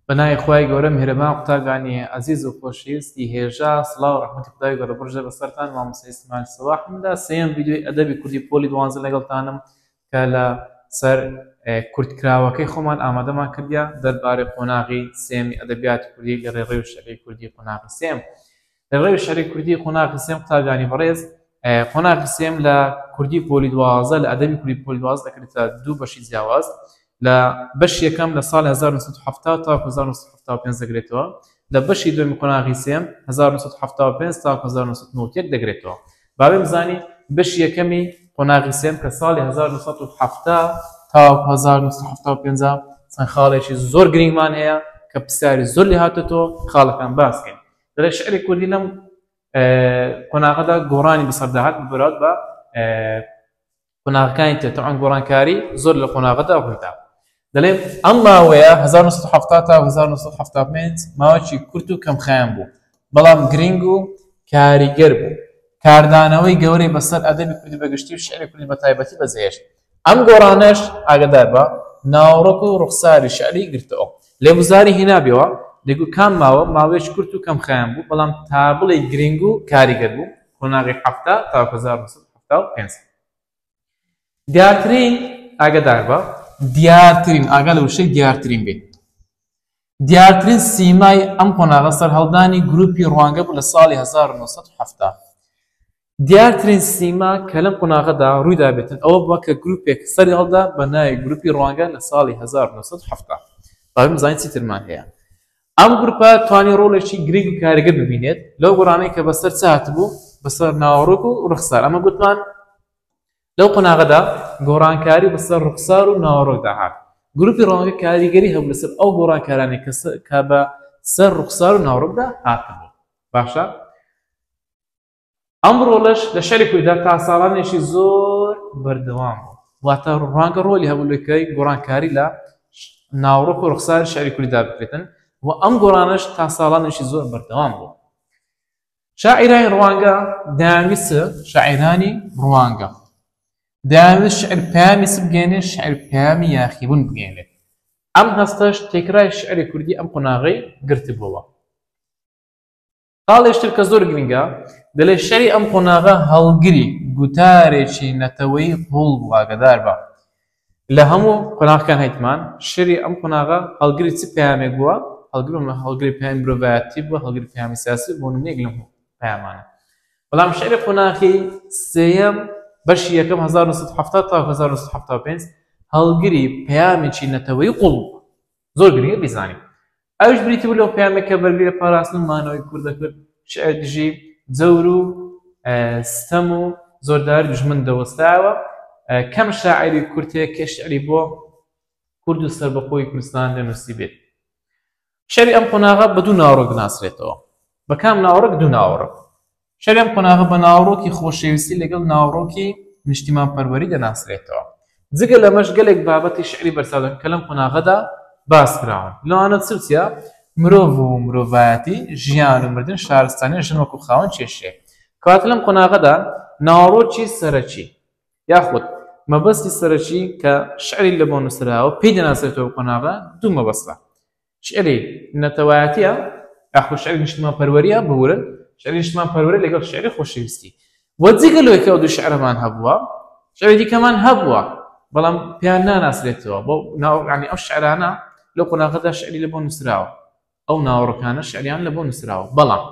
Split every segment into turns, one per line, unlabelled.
بە ناوی خوای گەورە میهرەبان قوتابیانی ئەزیز و خۆشەویستی هێژا سڵاو و ڕەحمەتی خودای گەورە بڕژێ بەسەرتان مامۆستای سلێمان سەباح من دا سێیەم ڤیدیۆی ئەدەبی کوردی پۆلی دوانزە لەگەڵتانم کە لە سەر کورتکراوەکەی خۆمان ئامادەمان کردیا دەربارەی قۆناغی سێمی ئەدەبیاتی کوردی لە ڕێڕەوی شەعری کوردی قۆناغی سێم ڕێوی شعری کوردی قۆناغی سێم قوتابیانی بەڕێز قۆناغی سێم لە کوردی پۆلی دوازە لە ئەدەبی کوردی پۆلی دواز دەکرێتە دوو بەشی جیاواز لە بەش یەکەم لە ساڵ 1970 تا 1975 دەگرێتەوە لە بەشی دوێمی قۆناغی سێم 1975 تا 1990 دەگرێتەوە باێ بزانین بەش یەکەمی قۆناغی سێم کە ساڵی 1970 تا 1970 چەند خاڵێکی زۆر گرنگمان هەیە کە پرسیاری زۆر لێ هاتێتەوە خاڵەکان باسکەین دەڵێ شعری کوردی لەم قۆناغەدا گۆڕانی بەسەردا هات بەراود بە قۆناغەکانی تر تەعان گۆڕانکاری زۆر لە قۆناغەدا ڕوویدا دەڵێ ئەم ماوەیە 1970 تا 1970 ماوەکی کورت و کەمخیان بوو بەڵام گرنگ و کاریگەر بوو کاردانەوەی گەورەی بەسەر ئەدەبی کوردی بەگشتی و شعری کوردی بە تایبەتی بەزێشت ئەم گۆرانەش ئاگادار بە ناوەڕۆک و ڕوخساری شعری گرتەوە. لێ وزاری هینابیەوە دەگوت کام ماوە ماوەیەکی کورت و کەم خایەن بوو بەڵام تا بڵێی گرینگ و کاریگەر بوو قۆناغی حەفتا تاوەک هەزار و نۆ سەد و حەفتا و پێنج دیارترین ئاگادار بە دیارترین ئاگا لە وشەی دیارترین بێ. دیارترین سیمای ئەم قۆناغە سەرهەڵدانی گرووپی ڕوانگە بوو لە ساڵی هەزار و نۆ سەد و حەفتا. دیارترین سیما کە لەم قۆناغەدا ڕووی دابێتن ئەوە بووە کە گرووپێک سەری هەڵدا بە ناوی گرووپی ڕوانگە لە ساڵی هەزار و نۆ سەد و حەفتا. با بمزانین چی ترمان هەیە. ئەم گرووپە توانی ڕۆڵێکی گرنگ و کاریگەر ببینێت لەو گۆڕانەی کە بەسەر چ هاتبوو؟ بەسەر ناوەڕۆک و ڕوخسار. ئەمە گوتمان لەو قۆناغەدا گۆڕانکاری بەسەر ڕوخسار و ناوەڕۆکدا هات، گروپی ڕەوانگە کاریگەری هەبوو لەسەر ئەو گۆڕانکارانەی کە بە سەر ڕوخسار و ناوەڕۆکدا هاتبوون. باشە ئەم ڕۆڵەش لە شاری کورددا تا ساڵانێکی زۆر بەردەوام بوو، واتە ڕوانگە ڕۆلی هەبوو لەکای گۆڕانکاری لە ناوڕۆک و ڕوخساری شاری کورددا بکرێتن و ئەم گۆڕانەش تا ساڵانێکی زۆر بەردەوام بوو. شاعیرانی ڕوانگە دەیانویست شاعیرانی ڕوانگە دەیانویست شعر پەیامی چ بگەێنێت شعر پەیامی یاخیبوون بگەێنێت ئەم هەستەش تێکرای شعری کوردی ئەم قۆناغی گرتبووە خاڵێشتر کە زۆر گرنگە دەلێ شعری ئەم قۆناغە هەڵگری گوتارێکی نەتەوەی قوڵ بووە گەدار بە لە هەموو قۆناغەکان هەیتمان، شەری ئەم قۆناغە هەڵگری چ پەیامێک بووە، هەڵگری پەیامی مرۆڤایەتی بووە، هەڵگری پەیامی سیاسی بووە، نموونەیەک لەم هەموو پەیامانە. بەڵام شەری قۆناغی سێیەم، بەشی یەکەم هەزار و نۆ سەد و حەفتا تاوەکو هەزار و نۆ سەد و حەفتا و پێنج، هەڵگری پەیامێکی نەتەوەیی قووڵ بووە. زۆر گرنگە بیزانین ئەوش بریتی بوو لەو پەیامێک کە بەرگری لە پاراستن و مانەوەی کورد دەکرد شعر دژی جەور و ستەم و زۆردار دژمن دەوەستاوە کەم شاعری کورتەیە کە شعری بۆ کورد و سربەخۆی کوردستان دەنووسی بێت شعری ئەم قۆناغە بە دوو ناوڕۆک ناسرێتەوە بە کام ناوڕک دوو ناوڕک شەرێم قۆناغە بە ناوەڕۆکی خۆشەویستی لەگەڵ ناوەڕۆکی نیشتیمانپەروەری دەناسرێتەوە. جگە لەمەش گەلێک بابەتی شیعری بەرچاودەن کە لەم قۆناغەدا باس کراون. لەوانە چ و چییە؟ مرۆڤ و مرۆڤایەتی، ژیان و مردن، شارستانی، ژن وەکوو خاوەن کێشەیەک. کەواتە لەم قۆناغەدا ناوەڕۆکی سەرەکی یاخود مەبەستی سەرەکی کە شیعری لەبۆ نووسراوە پێی دەناسرێتەوە قۆناغە دوو مەبەستە. شعری نەتەوایەتیە ئەخو شعری نیشتمان پەروەریە بورن شعری نیشتمان پەروەری لەگەڵ شعری خۆشەویستی وە جگە لەوەی کە دوو شعرمان هەبووە شعری دیکەمان هەبووە بەڵام پێیان ناناسرێتەوە بۆ ناوڕانی ئەو شعرانە لەو قۆناغەدا شعری لە بۆ نووسراوە ئەو ناوەڕەکانە شعریان لە بۆ نووسراوە بەڵام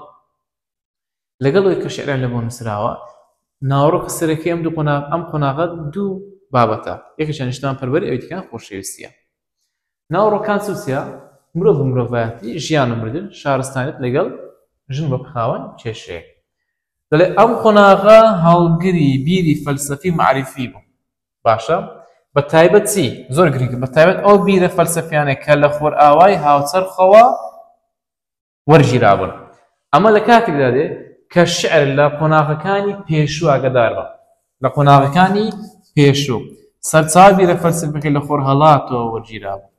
لەگەڵ ئەوەی کە شعران لەبۆ نووسراوە، ناوەڕۆکی سەرەکی ئەم دوو قۆناغ ئەم قۆناغە دوو بابەتە، یەکێکیان نیشتمانپەروەری ئەوی دیکەیان خۆشەویستییە. ناوەڕۆکان چ و چیا، مرۆڤ و مرۆڤایەتی، ژیان و مردن، شارستانیەت لەگەڵ ژن وەک خاوەن کێشەیەک. دەڵێ ئەم قۆناغە هەڵگری بیری فەلسەفی و مەعریفی بوو. باشە بە تایبەت چی؟ زۆر گرنگە بە تایبەت ئەو بیرە فەلسەفیانەی کە لە خۆرئاوای هاوچەرخەوە وەرگیرابوون. ئەمە لە کاتێکدا دێ کە شیعر لە قۆناغەکانی پێشوو ئاگەدار بە. لە قۆناغەکانی پێشوو سەرچاوە بیرە فەلسەفەکەی لە خۆرهەڵاتەوە وەرگیرابوو.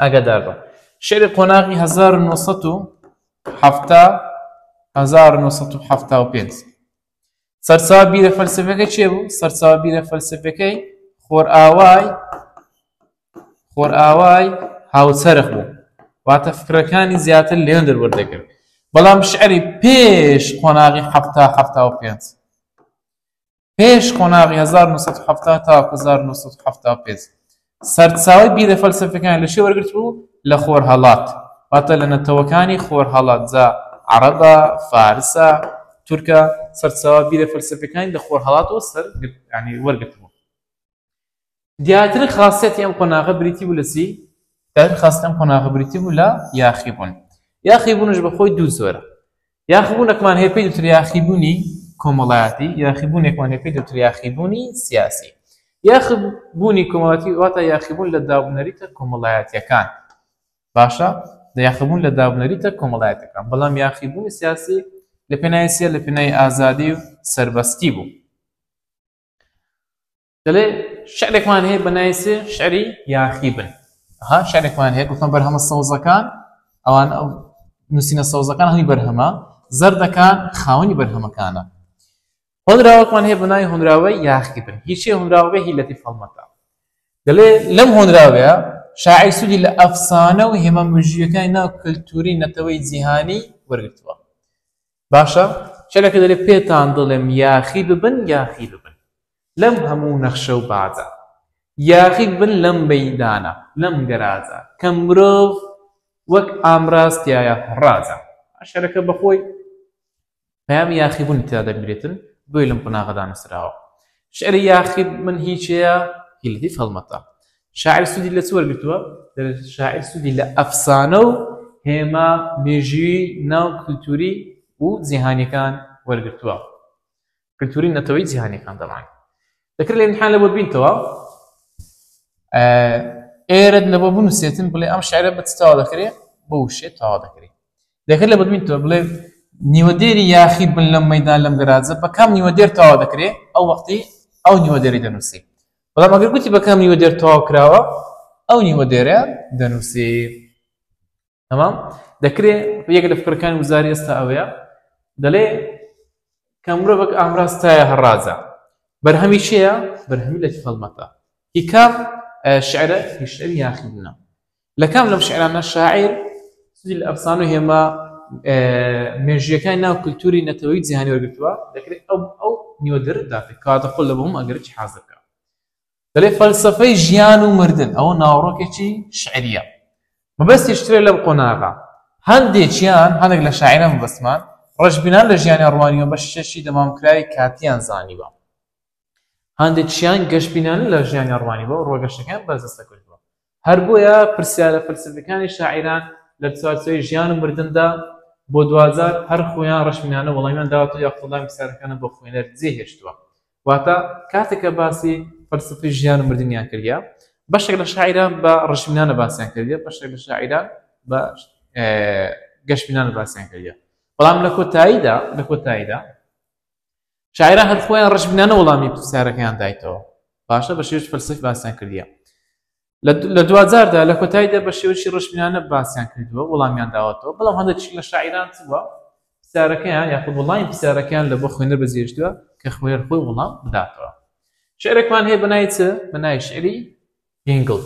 ئاگەدار بە. شعری قۆناغی 1970 1975 سەرچاوە بیرە فەلسفەکە چێ بوو سەرچاوە بیرە فەلسفەکەی خۆرئاوای خۆرئاوای هاوچەرخ بوو واتە فکرەکانی زیاتر لێن دەروەردەگرت بەڵام شعری پێش قۆناغی حفتا حفتا و پێنج پێش قۆناغی 1970 تا 1970 سەرچاوەی بیرە فەلسەفیەکانی لە چێ وەرگرتبوو؟ لە خۆرهەڵات، واتە لە نەتەوەکانی خۆرهەڵات، جا عەڕەبە، فارسە، تورکە، سەرچاوە بیرە فەلسەفیەکانی لە خۆرهەڵاتەوە سەر یانی وەرگرتبوو. دیارترین خاسیەتی ئەم قۆناغە بریتی بوو لە چی؟ دیارترین خاسیەتی ئەم قۆناغە بریتی بوو لە یاخیبوون. یاخیبوونیش بە خۆی دوو جۆرە، یاخیبوونەکمان هەیە پێی دەوترێت یاخیبوونی کۆمەڵایەتی یاخیبوونێکمان هەیە پێی دەوترێت یاخیبوونی سیاسی یاخیبوونی کۆمەڵایەتی واتە یاخیبوون لە دابنەریتە کۆمەڵایەتیەکان باشە لە یاخیبوون لە دابنەریتە کۆمەڵایەتەکان بەڵام یاخیبوونی سیاسی لە پێناوی سیە لە پێناوی ئازادی و سربەستی بوو دەڵێ شعرێکمان هەیە بە ناوی سێ شعری یاخی بن ها شعرێکمان هەیە گوتم بەرهەمە سەوزەکان ئەوان ئەو نووسینە سەوزەکان هەمی بەرهەمە زەردەکان خاوەنی بەرهەمەکانە هۆنراوەکمان هەیە بە ناوی هۆنراوەی یاخی بن هیچی هۆنراوەی هی لەتی فەڵمەکە دەڵێ لەم هۆنراوەیە شاعی سوودی لە ئەفسانە و هێمە مژیەکانی ناو کللتوری نەتەوەی جیهانی وەرگتووە باشە کەلەکە دەلێ پێتان دڵێم یاخی ببن یاخی ببن لەم هەموو نەخشە و باجە یاخی ببن لەم مەیدانە لەم گەراجە کە مرۆڤ وەک ئامراز تیایە ڕاجە شعرەکە بەخۆی پەیامی یاخی بوونی تیا دەبرێتن بۆی لەم قوناغەدا نووسراوە شعری یاخی من هیچەیە هیلدی فەڵمەتە شاعیر سوودی لە چ وەرگرتووە؟ دەڵێت شاعیر سوودی لە ئەفسانە و هێما مێژووی ناو کلتوری و جیهانیەکان وەرگرتووە کلتوری نەتەوەی جیهانیەکان دەڵان دەکرێت لە امتحان لەوە بینتەوە ئێرەت لەوە بنووسێتن بڵێ ئەم شعرە بە تاوا دەکرێت بۆ شێت تاوا دەکرێت دەکرێت لە بەدوینتەوە بڵێ نیوەدێری یاخی بن لەم مەدان لەم گەراجە بەکەم نیوەدێر تاوا دەکرێت ئەو وەختی ئەو نیوەدێری دەنووسیت بەڵام ئەگەر گوتی بە کام نیوە دێر تەواو کراوە ئەو نیوە دێرە دەنووسێ تەمام دەکرێت یەک لە فکرەکانی وزاری ئێستا ئەوەیە دەڵێ کە مرۆڤک ئامراستایە هەڕازە بەرهەمی چەیە بەرهەمی لە هەڵمەتە هیکاف شعرە هیشتر یاخیبنە لە کام لەم شعرانە شاعیر سودی لە ئەفسانە و هێما مێژیەکانی ناو کللتوری نەتەوەی جیهانی وەرگتووە دەکرێت ئەو ئەو نیوەدر داێت کاتە خۆل لە بۆم ئەگەرکی حازر بکە دەێ فەلسفەی ژیان و مردن ئەوە ناوڕۆکێکی شعریە مەبەستی شترێ لەم قۆناغا هەندێکیان هەندێک لە شاعرە مەبەستمان ڕژبینان لە ژیانی ڕوانیوە بە شەشی دەمامکراوی کاتیان زانیوە هاندێکشیان گەشبینانە لە ژیانیان ڕوانیوە و ڕۆگەشتەکەیان بەرجەستە کردووە. هەر بۆیە پرسیارە فەلسەفیەکانی شاعیران لە چوارچێوەی ژیان و مردندا بۆ دواجار هەر خۆیان ڕەشبینانە وەڵامیان داوەتەوە یاخود وەڵامی پرسیارەکانە بۆ خوێنەر جێ هێشتووە. واتە کاتێک کە باسی فەلسەفەی ژیان و مردنیان کردیە بەشێک لە شاعیران بە ڕەشبینانە باسیان کردیە بەشێک لە شاعیران بە گەشبینانە باسیان کردیە بەڵام لە کۆتاییدا لە کۆتاییدا شاعرە هەر خۆیان ڕش بنانە وەڵامی پرسیارەکەیان دایتەوە باشە بە شێوش فەلسف باسیان کردیە لە دوجاردا لە کۆتاییدا بە شێوشی ڕشبنانە باسیان کردووە وەڵامیان داوەتەوە بەڵام هەندێک لە شاعران چوە پرسیارەکەیان یاخود وڵامی پرسیارەکەیان لە بۆ خوێنەر بەجێشتووە کە خوێر خۆی وڵام بداتەوە شعرێکمان هەیە بەنای چ بەنای شعری گنگڵ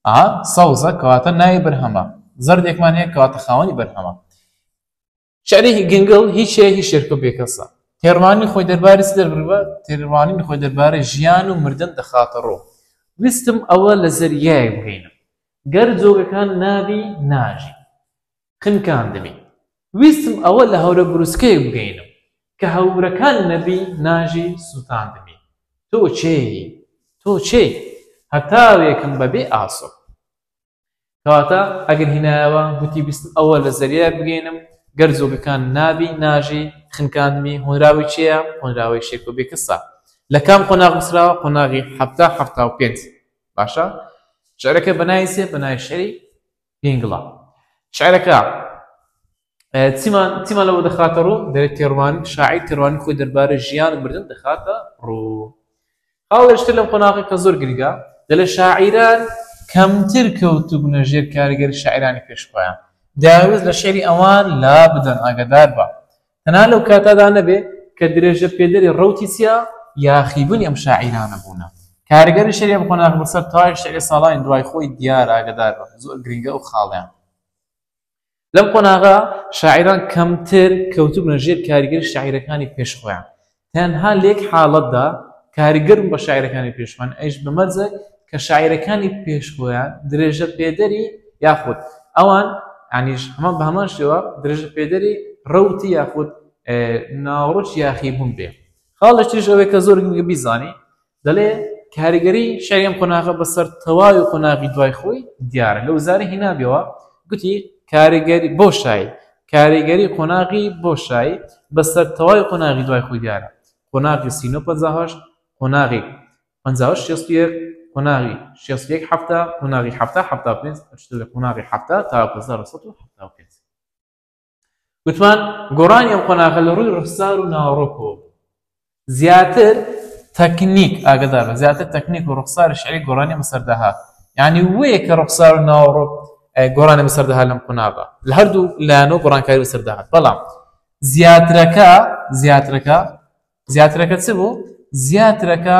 ئا سەوزە کەواتە ناوی بەرهەمە زەردێکمان هەیە کەواتە خاوەنی بەرهەمە شعری گنگڵ هیچ هەیە هیچ شێرکە بێکەسە تێڕوانینی خۆی دەربارەی چ دەربروە تێڕوانینی خۆی دەربارەی ژیان و مردن دەخاتە ڕۆ ویستم ئەوە لە زەریای بگەینم گەر جۆگەکان نابی ناژی خنکاندمی ویستم ئەوە لە هەورە بروسکەیە بگەینم کە هەورەکان نەبی ناژی سووتاندمی تۆ چێی تۆ چێی هەتاوێکم بەبێ ئاسۆ کەواتە ئەگەر هینایەوە گوتی بیستم ئەوە لە زەریای بگەینم گەر جۆگەکان نابی ناژی خنکاندمی هۆنراوی چێە هۆنراوەی شێکۆ بێکەسە لە کام قۆناغ نووسراوە قۆناغی حەفتا حەفتا و پێنج باشە شعرەکە بەناوی چێ بەناوی شعری پینگڵە شعرەکە چیمان چیمان لەوە دەخاتە ڕوو دەێت تێڕوان شاعی تێڕوانی خۆی دەربارە ژیان مردن دەخاتە ڕوو هاڵێشتر لەم قۆناغی کە زۆر گرگە دەلێ شاعیران کەمتر کەوتبوونە ژێر کاریگەری شاعرانی پێشخۆیان داوز لە شعری ئەوان لا بدەن ئاگدار بە تەنا لەو کاتادا نەبێ کە درێژە پێدەری ڕوتی چیا یاخیبوونی ئەم شاعیرانە بوونە کارگەری شەریە بخۆناغ بەسەر تای شعری ساڵانی دوای خۆی دیار ئاگدار بە زۆر گرنگە و خاڵیان لەم قۆناغە شاعیران کەمتر کەوتبوونە ژێر کاریگەری شاعیرەکانی پێش خۆیان تەنها لە یەک حاڵەتدا کاریگەرم بە شاعیرەکانی پێشمان ئەیش بەمەرجە کە شاعیرەکانی پێش خۆیان درێژە پێدەری یاخود ئەوان ئەنیش هەمان بە هەمان شێوە درێژە پێدەری ڕوتی یاخود ناوڕۆژ یاخی بوون بێ خاڵشتیش ئەوێ کە زۆر گرنگە بیزانی دەڵێ کاریگەری شەری ئەم قۆناغە بەسەر تەواوی قۆناغی دوای خۆی دیارە لە وزاری هینابیەوە گوتی کاریگەری بۆ شای کاریگەری قۆناغی بۆ شای بەسەر تەواوی قۆناغی دوای خۆی دیارە قۆناغی سینۆ پەنجاهەشت قۆناغی پەنجاهەشت شێست و یەک قۆناغی شێست و یەک حەفتا قۆناغی حەفتا حەفتا و پێنج ئەچتە لە قۆناغی حەفتا تا هەزار و سەد و حەفتا و پێنج گوتمان گۆڕانی ئەم قۆناغە لە ڕووی ڕفتار و ناوەڕۆکەوە زیاتر تەکنیک ئاگدار بە زیاتر تەکنیک و ڕوخسار شعری گۆرانی بەسەردەهات یعنی وەیە کە ڕوخسار و ناوەڕۆک گۆرانی بەسەردەهات لەم قوناغە لە هەردوو لایەنەوە گۆڕانکاری بەسەردەهات بەڵام زیاترەکە زیاترەکە زیاترەکە چ بوو؟ زیاترەکە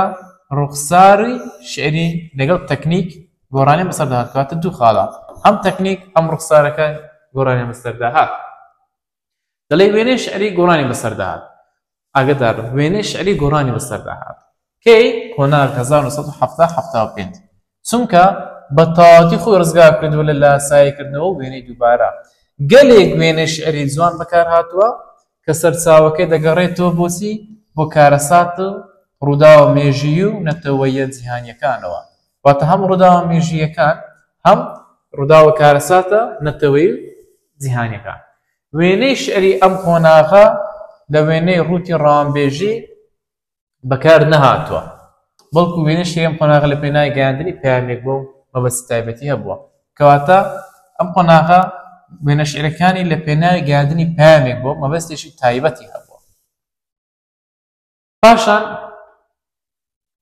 ڕوخساری شیعری لەگەڵ تەکنیک گۆرانیان بەسەردا هات، کەواتە دوو خاڵە، هەم تەکنیک هەم ڕوخسارەکە گۆرانیان بەسەردا هات. دەڵێ وێنەی شیعری گۆرانی بەسەردا هات. ئاگدار بن وێنەی شیعری گۆرانی بەسەردا هات. کەی؟ قۆناغ 1970 75. چونکە بە تەواوەتی خۆی ڕزگار کردووە لە لاساییکردنەوە و وێنەی دووبارە. گەلێک وێنەی شیعری جوان بەکار هاتووە کە سەرچاوەکەی دەگەڕێتەوە بۆ چی؟ بۆ کارەسات و ڕووداوە مێژوویی و نەتەوەییە جیهانییەکانەوە. واتە هەم ڕووداوە مێژووییەکان، هەم ڕووداو و کارەساتە نەتەوەیی و جیهانییەکان. وێنەی شیعری ئەم قۆناغە لە وێنەی ڕووتی ڕەوانبێژی، بەکار نەهاتووە، بەڵکو وێنەشی ئەم قۆناغە لە پێناوی گەیاندنی پەیامێک بووە و مەبەستی تایبەتی هەبووە. کەواتە ئەم قۆناغە وێنەشیعرەکانی لە پێناوی گەیاندنی پەیامێک بووە و مەبەستێکی تایبەتی هەبووە. پاشان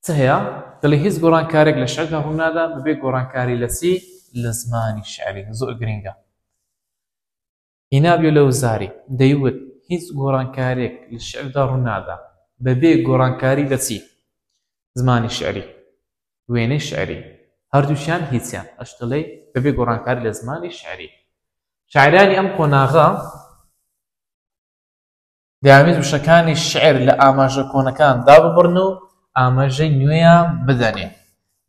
چ هەیە؟ دەڵێ هیچ گۆڕانکارێک لە شیعردا ڕوو نادا بەبێ گۆڕانکاری لە چی؟ لە زمانی شیعری. زۆر گرینگە. هینابیۆ لەوزاری، دەیوت، هیچ گۆڕانکارێک لە شیعردا ڕوونادا، بەبێ گۆڕانکاری لە چی؟ زمانی شیعری، وێنەی شیعری، هەردووکیان هیچیان، ئەش دەڵێی، بەبێ گۆڕانکاری لە زمانی شیعری. شاعیرانی ئەم قۆناغە، دەیانویست وشەکانی شیعر لە ئاماژە کۆنەکان داببڕن و ئاماژەی نوێیان بدەنێ.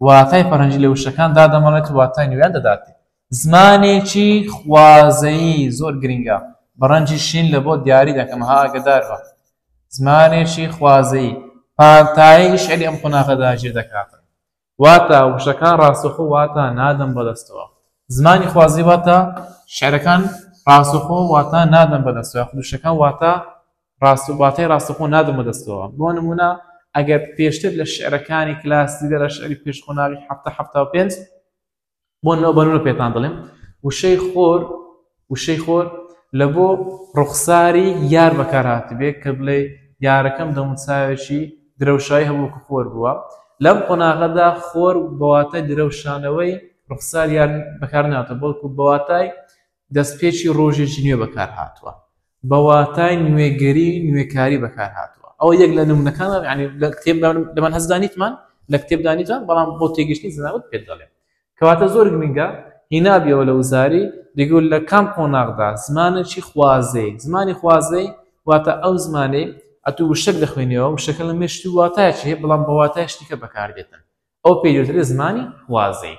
واتای فەرهەنگی لە وشەکان دادەمەڵێت و واتای نوێیان دەداتێ. زمانێکی خوازەیی زۆر گرینگە، بە ڕەنجی شین لە بۆ دیاری دەکەم، ها ئاگەدار بە! زمانێکی خوازەیی پانتایی شیعری ئەم قۆناغەدا جێ دەکاتن. واتە، وشەکان ڕاستەوخۆ واتا نادەن بە دەستەوە. زمانی خوازی واتە، شیعرەکان ڕاستەوخۆ واتا نادەن بە دەستەوە یاخود وشەکان واتا ڕاست واتای ڕاستەوخۆ نادەن بە دەستەوە. بۆ نموونە، ئەگەر پێشتر لە شیعرەکانی کلاسیکدا لە شیعری پێش قۆناغی حەفتا حەفتا و پێنج، بۆن لەو بەرونە پێتان دەڵێم وشەی خۆر وشەی خۆر لە بۆ ڕوخساری یار بەکار هاتبێت کە بڵێ یارەکەم دەموچاوێکی درەوشایی هەبووکە خۆر بووە لەم قۆناغەدا خۆر بەواتای درەوشانەوەی ڕوخسار یار بەکار ناتە بەڵکو بەواتای دەستپێکی ڕۆژێکی نوێ بەکارهاتووە، بە واتای نوێگەری و نوێکاری بەکارهاتووە. ئەوە یەک لە نموونەکانە، یەعنی لە کتێبدا لە من هەستدا نیتمان، لە کتێبدا نیتمان، بەڵام بۆ تێگەیشتنی زەناوت پێت دەڵێم. کەواتە زۆر گرنگە هینابیەوە لە وزاری، دەگوت لە کام قۆناغدا زمانێکی خوازەیی، زمانی خوازەیی واتە ئەو زمانەی ئەتوو وشەک دەخوێنیەوە، وشەکە لە مێشکتوو واتایەکی هەیە، بەڵام بە واتایەکی دیکە بەکاردێتن، ئەوە پێی دەوترێ زمانی خوازەیی.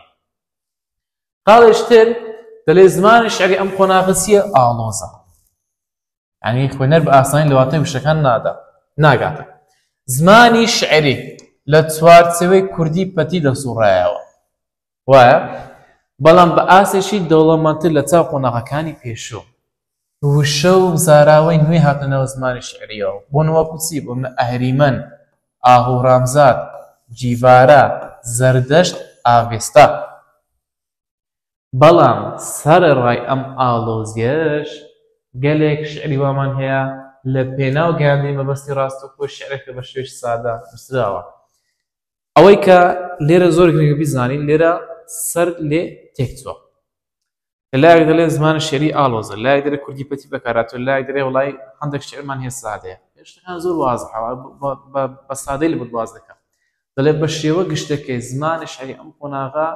خاڵێش تر دەلێ زمانی شعری ئەم قۆناغە چییە ئاڵۆزە یعنی خوێنەر بە ئاسانی لە واتای وشەکان نادا ناگاتە زمانی شعری لە چوارچەوەی کوردی پەتی دەسوڕایەوە وایە بەڵام بە ئاسێکی دەوڵەمەندتر لە چاو قۆناغەکانی پێشوو وشە و زاراوەی نوێ هاتنە ناو زمانی شیعرییەوە، بوون وەکوو چی؟ بوون ئەهریمەن، ئاهوورامزاد، جیڤارا، زەردەشت، ئاڤێستا. بەڵام سەرەڕای ئەم ئاڵۆزییەش، گەلێک شیعری وامان هەیە لە پێناو گەیاندنی مەبەستی ڕاستەوخۆی شیعرەکە بە شێوەیەکی سادە نووسراوە. ئەوەی کە لێرە زۆر گرنگە بیزانین، لێرە سەر لێ تێکچووە. لە لایەک دەلێن زمانی شیعری ئاڵۆزە، لە لایەک دەلێن کوردی پەتی بەکارهاتووە، لە لایەک دەلێن وەڵای هەندێک شیعرمان هەیە سادەیە. شتەکان زۆر وازحە بە سادەی لە بت باس دەکەم. دەلێ بە شێوە گشتەکەی زمانی شیعری ئەم قۆناغە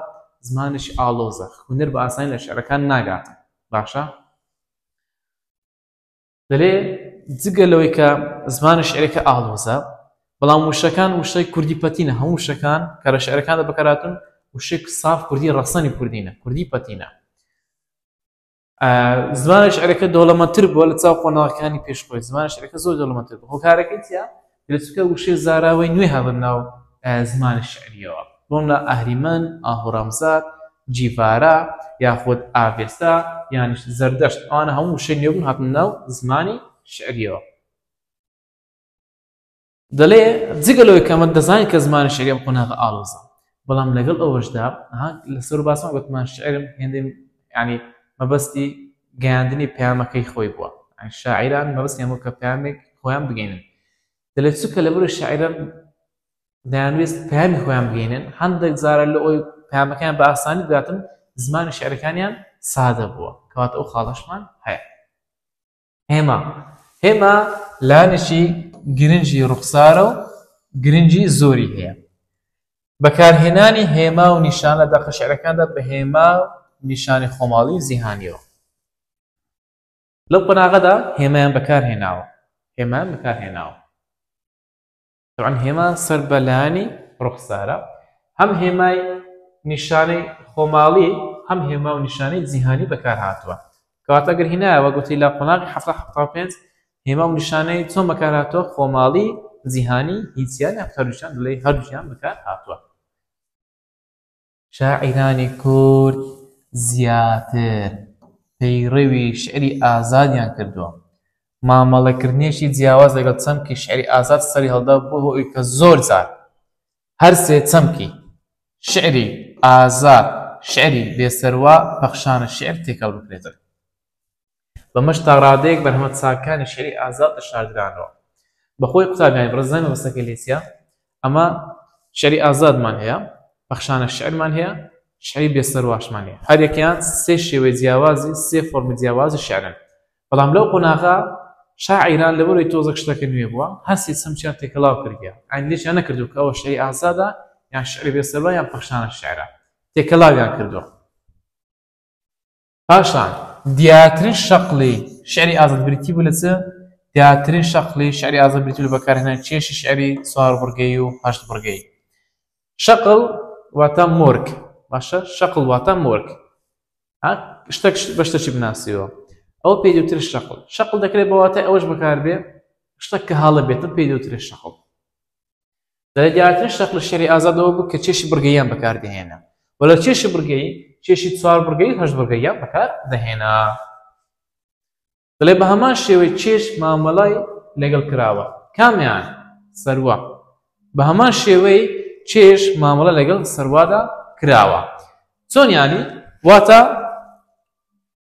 زمانێکی ئاڵۆزە، خوێنەر بە ئاسانی لە شیعرەکان ناگاتە. باشە؟ دەلێ جگە لەوەی کە زمانی شعرەکە ئاڵۆزە بەڵام وشەکان وشەی کوردی پەتینە هەموو وشەکان کە لە شعرەکاندا بەکاراتون وشێک ساف کوردی ڕەسەنی کوردینە کوردی پەتینە زمانی شعرەکە دەوڵەمەتر بووە لە چاو قۆناغەکانی پێشخۆی زمانی شعرەکە زۆر دەوڵەمەتر بوو هۆکارەکەی چیە گرچکە وشەی زاراوەی نوێ هاتە ناو زمانی شیعرییەوە، بۆ نموونە ئاهریمەن، ئاهورامزاد، جیڤارا یاخود ئاڤێستا یانیش زەردەشت، ئەوانە هەموو وشەی نوێ بوون هاتنە ناو زمانی شیعرییەوە. دەڵێ، جگە لەوەی کە ئەمە دەزانین کە زمانی شیعری ئەم قۆناغە ئاڵۆزە، بەڵام لەگەڵ ئەوەشدا ها لە سەرو باسما گۆتمان شعرم هێندەی یانی مەبەستی گەیاندنی پەیامەکەی خۆی بووە شاعیران مەبەستیان بۆ کە پامێک خۆیان بگەینن دەلێت چکە لە بەرو شاعرم دەیانویست پامی خۆیان بگەینن هەندێک زارە لە ئەوی پامەکەیان بە ئاسانی بگاتن زمانی شعرەکانیان سادە بووە کەواتە ئەو خاڵەشمان هەیە هێما هێما لانیشی گرنگی ڕوخسارە و گرنگی زۆری هەیە بەکارهێنانی هێما و نیشانە دەقە شعرەکاندا بە هێما نیشانی خۆماڵی و زیهانیەوە لەو قۆناغەدا هێمایان بەکارهێناوە هێمان بەکارهێناوە طبعا هێما سەر بە لایەنی ڕوخسارە هەم هێمای نیشانەی خۆماڵی هەم هێما و نیشانەی جیهانی بەکار هاتووە کەواتە گەر هینایەوە گوتی لە قۆناغی حەفتا حەفتا و پێنج هێما و نیشانەی چۆن بەکار هاتووە خۆماڵی جیهانی هیچیان هەفتەروشان لەی هەردووشیان بەکار هاتووە شاعیرانی کورد زیاتر پەیڕەوی شیعری ئازادیان کردووە، مامەڵەکردنێکی جیاواز لەگەڵ چەمکی شیعری ئازاد سەریهەڵدا بووە هۆی کە زۆر جار هەر سێ چەمکی، شیعری ئازاد، شیعری بێسەروا، پەخشانە شیعر تێکەڵ بکرێتەوە. بەمەش تاڕادەیەک بەرهەمە چاکەکانی شیعری ئازاد دەشاردرانەوە. بەخۆی قوتابیانی بڕزای مەبەستەکەی لێ چییە؟ ئەمە شیعری ئازادمان هەیە، پەخشانە شیعرمان هەیە، شیعری بێسەرواشمان هەیە. هەر یەکەیان سێ شێوەی جیاوازی، سێ فۆرمی جیاوازی شیعرن. بەڵام لەو قۆناغە شاعیران لەبەرئەوەی تۆزەک شتەکە نوێ بووە، هەستی چەمکیان تێکەڵاو کردیە. ئەنی لێکیان نەکردووە کە ئەوە شیعری ئازادە، یان شیعری بێسەروا، یان پەخشانە شیعرە. تێکەڵاویان کردووە. پاشان، دیارترین شەقڵی شیعری ئازاد بریتی بوو لە چ؟ دیارترین شەقڵی شیعری ئازاد بریتی بوو لە بەکارهێنانی کێشی شیعری چوار بڕگەیی و هەشت بڕگەیی. شەقڵ واتە مۆرک، باشە شەقڵ واتە مۆرک. شتەک بە شتەکی بناسیەوە. ئەو پێی دوتر شەقڵ. شەقڵ دەکرێت بە واتای ئەوەش بەکاربێ شتەک کە هەڵە بێتن پێی دوتر شەقڵ. لە دیارترین شەق لە شێری ئازادەوە بوو کە چێشی بڕگەیان بەکاردەهێنا و لە چێشی بڕگەی چێشی چوار بڕگەی و هەشت بڕگەیان بەکار دەهێنا دەڵێ بە هەمان شێوەی چێش مامەڵای لەگەڵ کراوە کامیان سەروە بە هەمان شێوەی چێش مامەڵە لەگەڵ سەروادا کراوە چۆنیانی واتە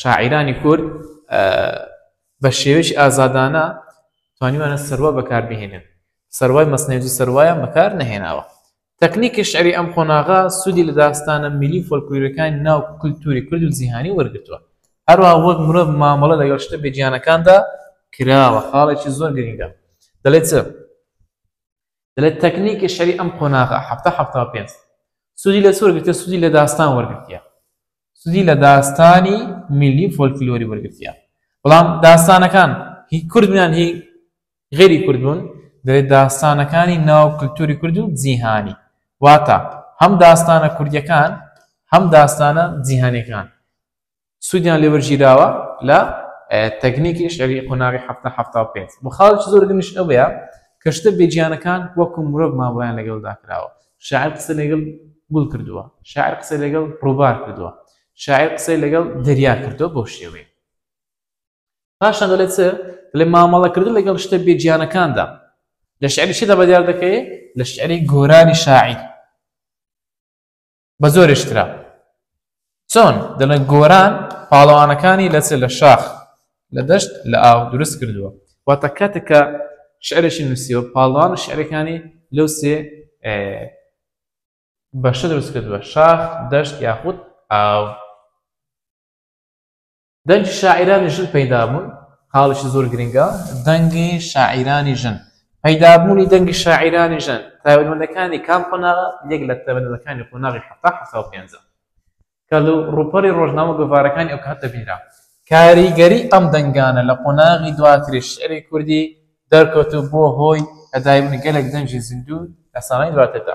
شاعیرانی کورد بە شێوەی ئازادانە توانیوانە سەروا بەکاربهێنن سەروای مەسنێوزی سەروایان بەکار نەهێناوە تەکنیکی شعری ئەم قۆناغا سوودی لە داستانە میلی فۆلکلورەکانی ناو کللتوری کورد و جیهانی وەرگتووە هەروە وەک مرۆڤ مامەڵە لە گەشتە بێجیانەکاندا کراوە خاڵێکی زۆر گرنگە دەڵێت دەڵێت تەکنیکی شەری ئەم قۆناغا ه پێ سوودی لە سوور گرتە سوودی لە داستان وەرگتیە سودی لە داستانی میللی و فۆلکلۆری وەرگرتیە، بەڵام داستانەکان هی کورد بوون یان هی غەیری کورد بوون، دەبێت داستانەکانی ناو کلتوری کورد و جیهانی، واتە هەم داستانە کوردیەکان هەم داستانە جیهانیەکان سودیان لێ وەرگیراوە لە تەکنیکی شیعری قۆناغی حەفتا حەفتا و پێنج. بۆ خاڵێکی زۆر گرنگیش ئەوەیە کە شتە بێگیانەکان وەکو مرۆڤ مامەڵەیان لەگەڵدا کراوە، شاعیر قسەی لەگەڵ گوڵ کردووە، شاعیر قسەی لەگەڵ ڕووبار کردووە، شاعیر قسەی لەگەڵ دەریا کردووە بەو شێوەیە. پاشان دەڵێت چ؟ دەڵێت مامەڵەکردن لەگەڵ شتە بێ گیانەکاندا لە شعری چیدا بەدیار دەکەوێت؟ لە شعری گۆرانی شاعیر بە زۆرێشترە. چۆن دەڵێن گۆران پاڵەوانەکانی لە چ لە شاخ لە دەشت لە ئاو دروست کردووە واتە کاتێکە شعرێکی نووسیەوە پاڵوان و شعرەکانی لەو سێ بەشە دروست کردووە شاخ دەشت یاخود ئاو دەنگی شاعیرانی ژن پەیدابوون خاڵیشی زۆر گرنگە دەنگی شاعیرانی ژن پەیدابوونی دەنگی شاعیرانی ژن تایبەتمەندەکانی کام قۆناغە یەک لە تایبەتمەندەکانی قۆناغی حەفتا حەفتا و پێنجە کە لە ڕووپەڕی ڕۆژنامە گۆڤارەکانی ئەو کات دەبینرا کاریگەری ئەم دەنگانە لە قۆناغی دواتری شعری کوردی دەرکەوت و بووە هۆی پەیدابوونی گەلێک دەنگی زیندوو لە ساڵانی دواتردا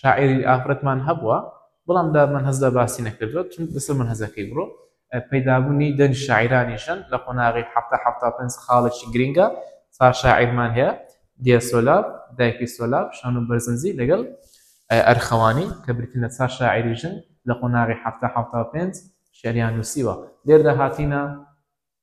شاعری ئافرەتمان هەبووە بەڵام دا من هەزدا باسی نەکردوە چون لەسەر من هەزەکەی بڕۆ پەیدابوونی دەنگ شاعرانی ژەن لە قۆناغی حتا حتا پنج خاڵێکی گرنگە سا شاعرمان هەیە دیێ سۆلاب دایکی سۆلاب شان و بەرزنجی لەگەڵ ئەرخەوانی کە برتن لە چا شاعری ژن لە قۆناغی حتا حتا پێنج شعریان نووسیوە لێردا هاتینە